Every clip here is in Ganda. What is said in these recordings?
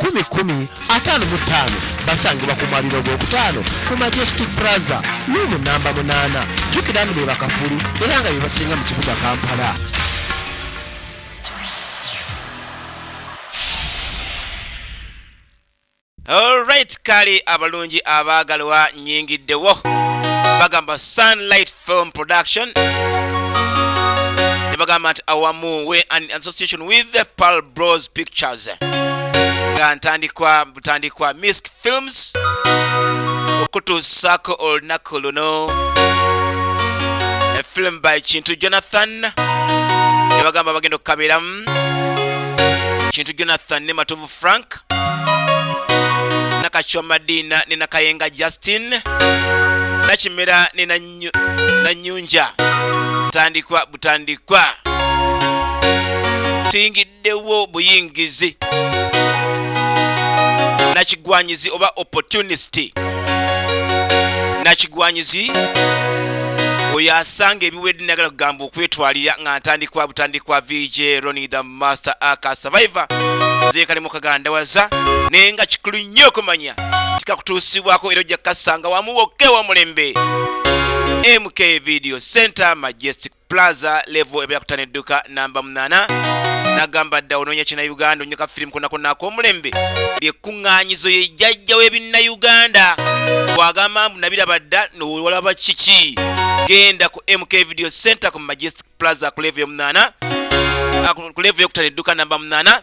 kumi kumi ataano mu ttaano basangibwa ku mwaliro ogwokutaano ku majestic praza luumu namba munaana jjukira nti be bakafulu era nga bye basinga mu kibuga kampala olright kali abalungi abaagalwa nyingiddewo bagamba sunlight film production ne bagamba nti awamu we an association with the pal bros pictures nga ntandikwa butandikwa misk films okutuusaako olunaku luno a film by kintu jonathan ne bagamba bagenda okukabeeramu kintu jonathan ne matovu frank nakachoma dina ne nakayenga justin nakimera ne Nanyu- nanyunja tandikwa butandikwa tuyingiddewo buyingizi nakigwanyizi oba opportunist nakigwanyizi oyo asanga ebiwedde nagala kugamba okwetwalira nga ntandikwa butandikwa vj roni the master aka survivor zeekali mu kagandawaza naye nga kikulu nnyo okumanya tikakutuusibwako era ojja kukasanga wamu wokka ewamulembe mk video center majestic plaza level ebeera kutana edduka namba 8 nagamba dda onoonya kinayuganda onyoka firimu konakona ak'omulembe lyekkuŋŋaanyizo ye jjajja w'ebinnayuganda bwagamba mbu nabiraba dda nowalaba kiki genda ku mk video center ku majestic plaza ku levu yomunaana ah, ku levu yokutana edduka namba munaana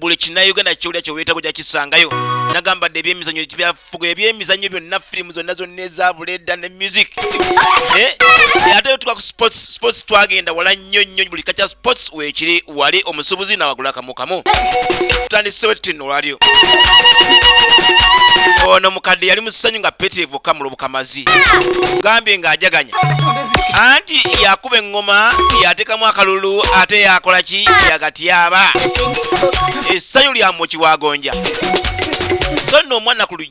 buli kinauganda kyolya kyewetaga oja kisangayo nagamba dde ebyemizanyo byafuga ebyemizanyo byonna firimu zonna zonna ezabuleda ne music eh? ate tuka ku sports twagenda wala nnyo nnyo buli kakya sports wekiri wali omusubuzi nawagula kamu mu kamu tutandisewo ettino olwalyo ono mukadde yali musanyu nga pete evuka mulubuka mazi gambye ng'ajaganya anti yakuba eŋŋoma yateekamu akalulu ate yakola ki yagatyaba essanyu lyamukiwagonja so nno omwana ku lujja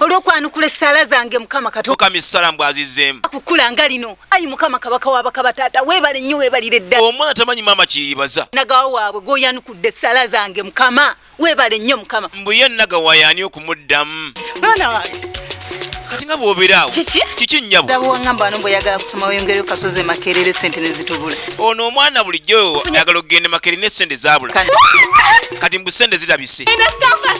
olwokwanukula essaala zange mukama katukama essala mbu azizemu kukula nga lino ayi mukama kabaka wabakaba taata webale nnyo webalire ddala omwana tamanyi maama kyeyibaza nagawa waabwe gwoyanukudde essaala zange mukama webale nnyo mukama mbuye nagawa yaani okumuddamu mwana wange kati nga bwoberaawo kiki nnyabo gabwangamba wano mbweyagala kusoma weyongereyo kasozi emakerere sente nezitubula ono omwana bulijjo ayagala okugenda emakerere ne sente zabula kati mbu sente zitabise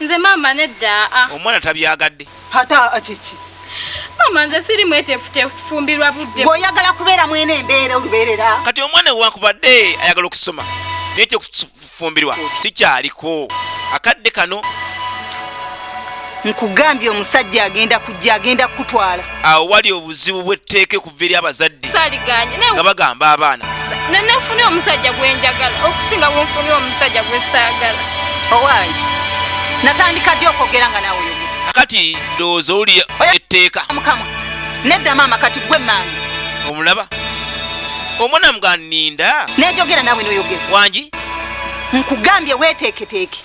Nze maama nedda a. Ah. Omwana tabyagadde. Hata akiki. Maama nze siri mwetefutefu kufumbirwa budde. Gw'oyagala kubeera mwene embeera olubeerera. Kati omwana ewakubadde ayagala okusoma naye kyekufumbirwa sikyaliko akadde kano. Nkugambye omusajja agenda kujja agenda kukutwala. Awo wali obuzibu bw'etteeke okuva eri abazadde nga bagamba abaana nenafuna omusajja gwenjagala okusinga bwenfuna omusajja gwesaagala owaayi natandika ddi okwogera nga nawe akati ndowooza oli etteeka mukama nedda maama kati gwe maange omulaba omwana mga ninda nejogera nawe noyogera wangi nkugambye weteeketeeke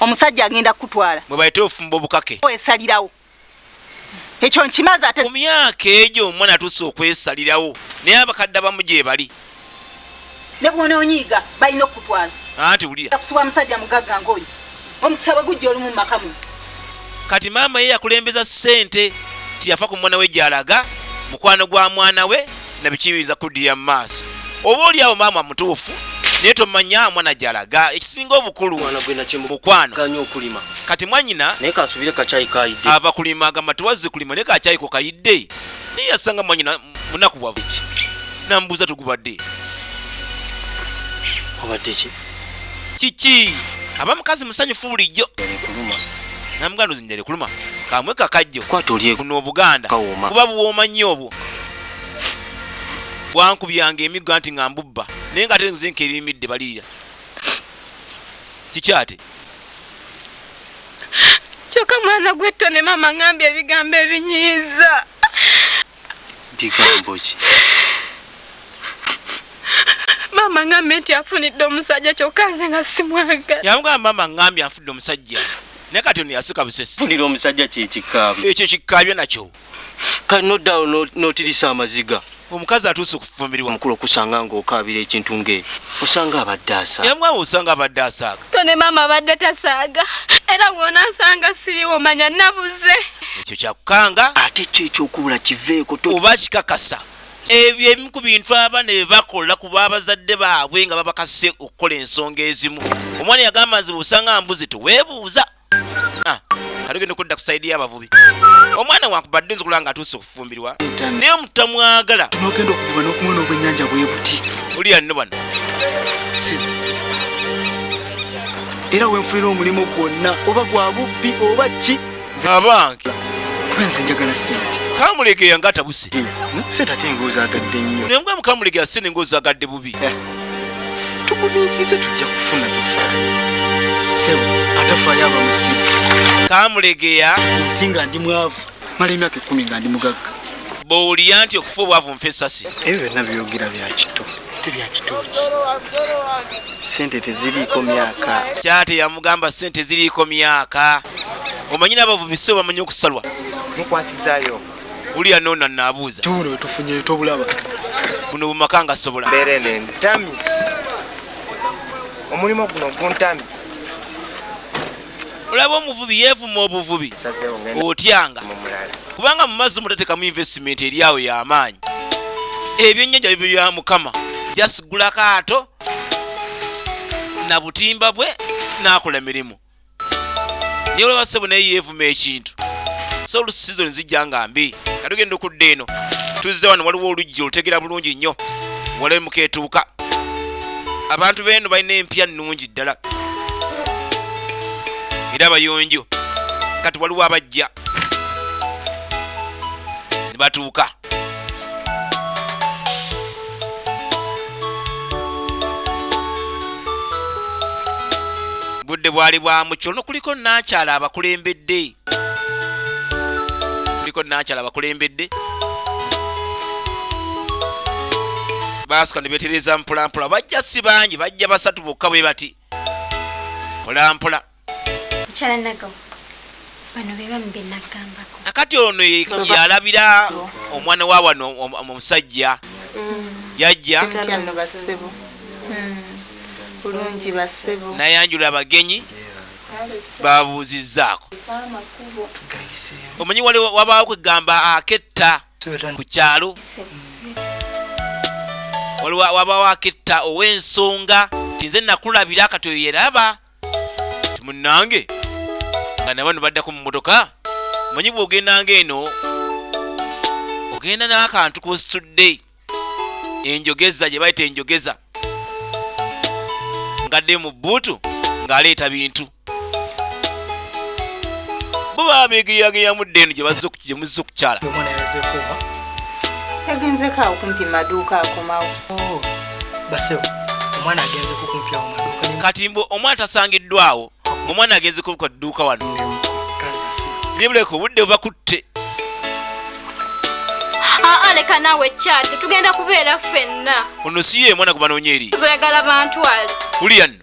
omusajja agenda kukutwala mwebayite ofumba obukake esalirawo ekyo nkimaze ate mu myaka egyo omwana atuuse okwesalirawo naye abakadde abamu gyebali ne bwona onyiiga balina okukutwala anti wulira kusubwa musajja mugagga ngaoyo omukisa bwe gujja olumu mumakamu kati maama ye yakulembeza ssente tiyafa ku mwana we gyalaga mukwano gwa mwana we nabikiyinza kuddirira mu maaso oba oli awo maama mutuufu naye tomanya mwana gyalaga ekisinga obukulu mukwano kati mwanyina ava kulima agamba tiwazze kulima naye kakyayiko kayidde naye yasanga mwanyina munaku bwavu namubuuza tugubadde kiki aba mukazi musanyufu bulijjo namuganda ozinjale kuluma kamwe kakajjo kuno obuganda kuba buwooma nnyo obwo bwankubyanga emigga nti nga mbubba naye nga ate nze nkerimidde baliira kikyate kyoka mwana gwetto ne maama ngambye ebigambo ebinyiiza bigambo ki maama ngambye nti afunidde omusajja kyokka nze nga simwagala yamugamba maama ngambye afudde omusajja naye kati ono yasika busesi funira omusajja kyekikaabyo ekyo kikaabyo nakyo kale noddawo notirisa amaziga omukazi atuuse okufufumirwa mukulu okusanga ngaokaabira ekintu ngaeyo osanga abadde asaaga yamwawe osanga abadde asaaga tone maama abadde tasaaga era wonansanga siriwo manya nabuze ekyo kyakukanga ate kyo ekyokubula kiveeko oba kikakasa ebyo ebimu ku bintu abaana bye bakola ku babazadde baabwe nga babakase okukola ensonga ezimu omwana yagamba nze bwosanga mbuzi teweebuuza ah, kalugenda okudda kusaidi y'abavubi omwana wankubadde nzikula nga atuuse okufumbirwa naye omutamwagala nogenda okuvuba nokumwena obwenyanja bwebuti uliya nno bano era wenfunira omulimu gwonna oba gwa bubbi oba ki abange kwenze njagala sente kamulege yanga atabuse eh, hmm? sente ate ngaozagadde nnyo naye mukwa mukamulege asene ngaozagadde bubi eh. tugumiikirize tujja kufuna tofaayo sebo atafaayo aba musiru kamulegeya nsi nga ndi mwavu mala emyaka ekumi nga ndi mugagga bowulira nti okufa obwavu nfa esasi ebyo byonna byogera byakito te byakitooki sente teziriiko myaka kyate yamugamba sente ziriiko myaka omanyi nabavu bisi obamanyi okusalwa mukwasizayo Ulia nona nabuza. Tuno tufunye to bulaba. Buno bumakanga sobola. Berene ntami. Omulimo guno guntami. Ulaba omuvubi yevu mu obuvubi. Otyanga. Kubanga mu mazi mutateka mu investment eri awo ya amaanyi. Ebyo nnyanja bibyo ya mukama. Just gula kaato na butimba bwe nakola mirimu. naye olaba sebo naye yeevuma ekintu so olusi sizoni zijja nga mbi nga tugenda okudda eno tuzze wano waliwo oluggi olutegera bulungi nnyo walabe mukeetuuka abantu beeno balina empya nnungi ddala era abayonjo kati waliwo abajja ne batuuka budde bwali bwa mukyo no kuliko nakyala abakulembedde kuliko nakyala abakulembedde baasuka ne betereza mpolampola bajja si bangi bajja basatu bokka bwe bati mpolampola nakati ono yalabira omwana wa wano omusajja mm. yajja bulungi basebo nayanjula abagenyi babuuzizzaako omanyi wali wabaawo kwegamba aketta ku kyalo waliwo wabaawo aketta ow'ensonga tinze nakulabira kati oyo yeraba timunange nga nabano baddako mu motoka manyi bwogendanga eno ogenda n'akantu kositudde enjogeza gye bayita enjogeza ngadde mu bbuutu ng'aleeta bintu bo baba begeyageyamu dde eno gye bazze oku- gye muzze okukyala Mwana yalaze kuba. Yagenze ka okumpi maduuka akomawo. Oh, basebo omwana agenze kukumpya omaduka kati mbu omwana tasangiddwawo omwana agenze kubuka dduuka wano nibuleka obudde bubakutte aa leka naawe ekyati tugenda kubeera ffenna ono si ye mwana gwe banoonya eri oyagala bantu ali ulian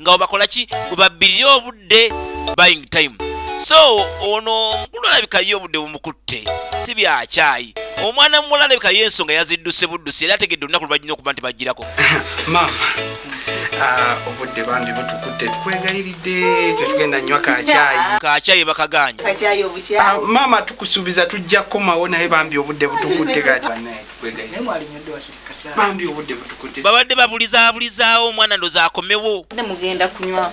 nga webakola ki webabbirire obudde buying time so ono omukulu alabika ye obudde bumukutte si byakyayi omwana muwala alabika ye ensonga yazidduse buddusi era ategedde olunaku lubajina okuba nti bajjirako maama ah, obudde bambi butukutte tukwegayiridde tetugenda nywa kakyayi kakyayi bakaganya ah, maama tukusuubiza tujja kukomawo naye bambi obudde butukutte kati babadde babulizabulizaawo omwana ndoza akomewo mugenda kunywa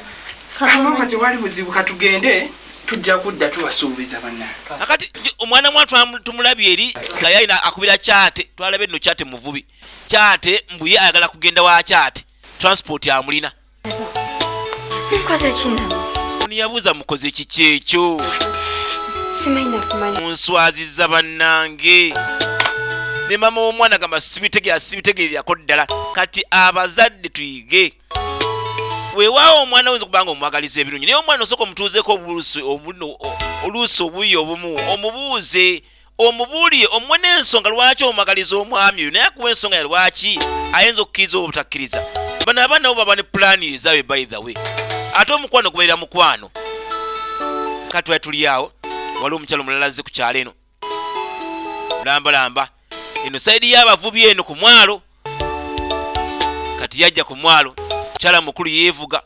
kama tewali buzibu katugende tujja kudda tubasuubiza banange akati omwana mwa tumulabye eri nga yalina akubira kyate twalabe nno kyate muvubi kyate mbuye ayagala kugenda wa kyate transport amulina mukoze kino niyabuuza mukoze kiki ekyo munswaziza bannange ne mama w'omwana gamba sibitegeera sibitegeererako ddala kati abazadde tuyige weewaawo omwana oyinza okubanga omwagaliza ebirungi naye omwana osooka omutuuzeeko oluusi obuyi obumu omubuuze omubuulire omuwe n'ensonga lwaki omwagaliza omwami oyo naye akuwa ensonga ya lwaki ayinza okukkiriza oba obutakkiriza bano abaana bo baba ne pulaani ezaabwe by the way ate omukwano gubeera mukwano katwali tuli awo waliwo omukyalo omulala azze ku kyalo eno lambalamba eno sayidi y'abavubi eno ku mwalo kati yajja ku mwalo mukyala mukulu yeevuga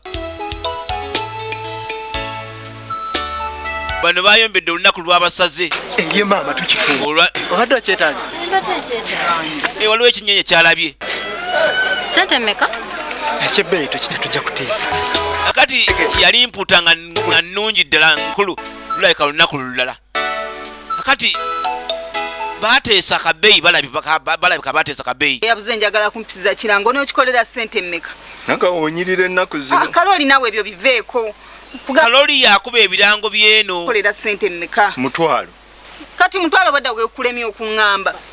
bano bayombedde olunaku lwabasaze eye maama tukifuobadde okyetanya eh, waliwo ekinyonyi kyalabye sente meka ekyebbeeyi tokita tujja kutiisa akati yali mputa nga nungi ddala nkulu lulabika lunaku lulala kakati bateesa kabeyi balabika bateesa kabeyi yabuze njagala kumpisiza kirango nokikolera sente mmeka naga onyirira ennaku zino ah, kaloli nawe ebyo biveeko kaloli yakuba ebirango byeno kolera sente mmeka mutwalo kati mutwalo badda gwekulemya okuŋŋamba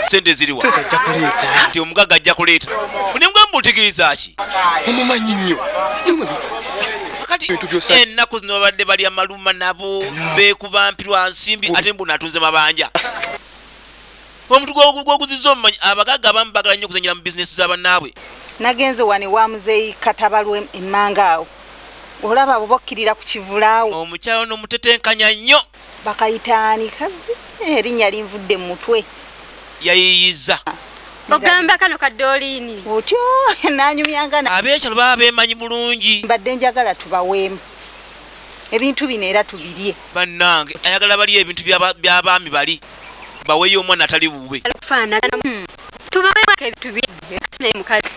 sente ziriwa nti omugaga ajja kuleeta nemugamba otegeeza ki omumanyi nnyo ennaku zino babadde balya maluma nabo bekubampirwa nsimbi ate mbu natunze mabanja omuntu gwoguziza omumanyi abagaga abamu bagala nnyo okuzanyira mu bizinesi zabanaabwe nagenze wani wa muzeeyi katabalwe emmanga awo olaba abo bokkirira ku kivulaawo omukyalo nomutetenkanya nnyo Bakayita ani kazi? Eh, erinnya linvudde mu mutwe. Yayiiyizza. Ogamba kano ka Doliini. Otyo nanyumyanga na. Abeekyalo baba beemanyi bulungi. Mbadde njagala tubaweemu ebintu bino era tubirye. Bannange ayagala balye ebintu by'abaami bali baweeyo omwana atali wuwe. Hmm. Tubaweeko ebintu bye naye mukazi.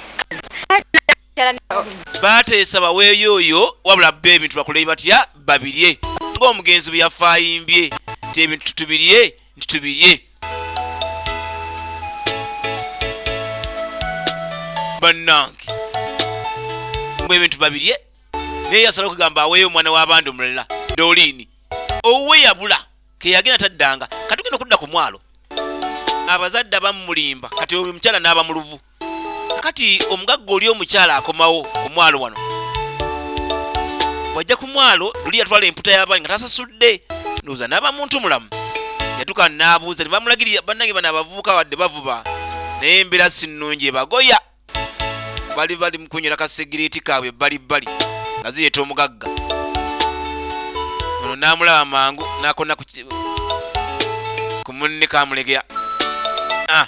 baateesa baweeyo oyo wabula bba ebintu bakulei batya babirye ng'omugenzi bwe yafa ayimbye nti ebintu tutubirye nti tubirye bannange mbu ebintu babirye naye yasala okugamba aweeyo omwana w'abandi omulala doliini owuwe yabula keyagenda taddanga katugenda okudda ku mwalo abazadde abamulimba kati oyo omukyala n'aba mu luvu kati omugagga oli omukyala akomawo ku mwalo wano wajja ku mwalo luli yatwala emputa y'abaani nga tasasudde ndowooza n'aba muntu mulamu yatuka n'abuuza ne bamulagirira bannange bano abavubuka wadde bavuba naye embeera si nnungi ebagoya bali bali mu kunywera kasegireti kaabwe ebbali bbali nga zireeta omugagga ono n'amulaba mangu n'akona ku munne kamulegera ah.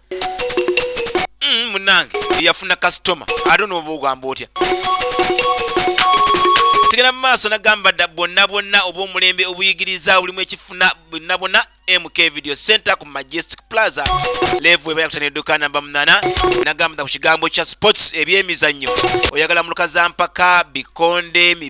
mm, munange eyafuna kasitoma ate onoba ogamba otya tugenda mu maaso nagamba dda bwonna bwonna oba omulembe obuyigiriza bulimu ekifuna bwonna bwonna mk video center ku majestic plaza levu eba yakutana edduka namba munana nagamba dda ku kigambo kya sports ebyemizannyo oyagala muluka za mpaka bikonde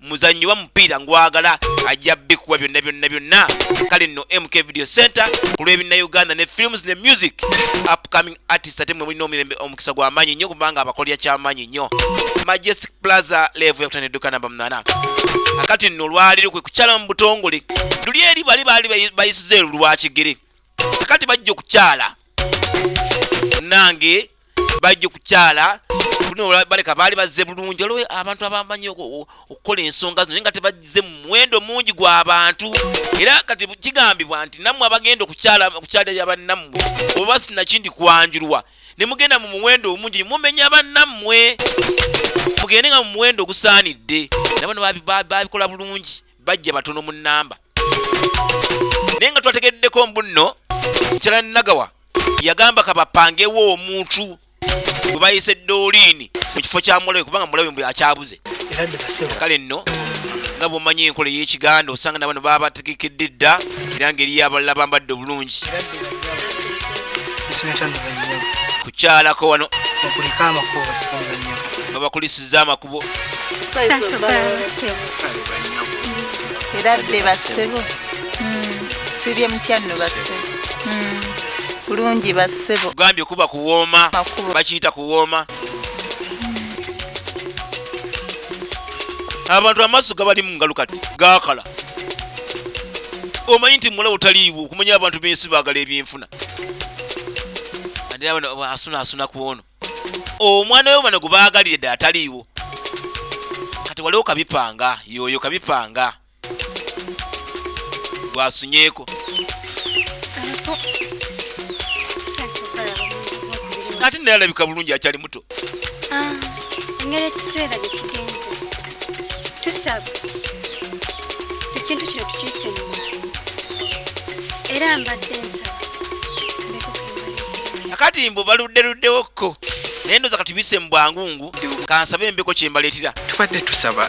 muzannyi wa mupiira ngwagala ajja bikuwa byonna byonna byonna kale nno mk video center ku lw'ebinna uganda ne films ne music upcoming artist ate mwe mulina omirembe omukisa gw'amaanyi nnyo kubanga abakolera ky'amaanyi nnyo majestic plaza levu yakutana edduka namba munana akati nno olwaliro kwe kukyala mu butongole luli eri bali baali bayisiza elu lwakigere akati bajja okukyala nange bajja okukyala baleka baali bazze bulungi olwo abantu abamanyi okukola ensonga zino naye nga tebazze mu muwendo mungi gw'abantu era kati kigambibwa nti nammwe abagenda okukyalira bannammwe oba sinakindi kwanjulwa ne mugenda mu muwendo omungi ne mumenya bannammwe mugende nga mu muwendo ogusaanidde nabano babikola bulungi bajja batono mu namba naye nga twategeddeko mbu nno nkyala nagawa yagamba kabapangewo omuntu gwe bayise doliini mu kifo kya mulabe kubanga mulabe mbu akyabuze kale nno nga bwomanyi enkola ey'ekiganda osanga nabano baba bategekedde dda era ngeri yabalala bambadde obulungi kukyalako wano babakulisiza amakulu kubo era dde bassebo sirye mutya nno bassebo bulungi bassebo gambye kuba kuwooma bakiyita kuwooma abantu amaaso gabali mu ngalo kati gaakala omanyi nti mulawo taliiwo okumanya abantu bensi baagala ebyenfuna asunasuna ku ono omwana oyo bano gubaagalire dde ataliiwo kati waliwo kabipanga yoyo kabipanga gwasunyeeko ate naye alabika bulungi akyali muto ah, engeri ekiseera gyekigenze tusaba ekintu kino tukisinga era mbadde nsaba akati mbu baluddeluddewokko naye ndoza kati bise mubwangungu kansabe embeko kyembaleetera tubadde tusaba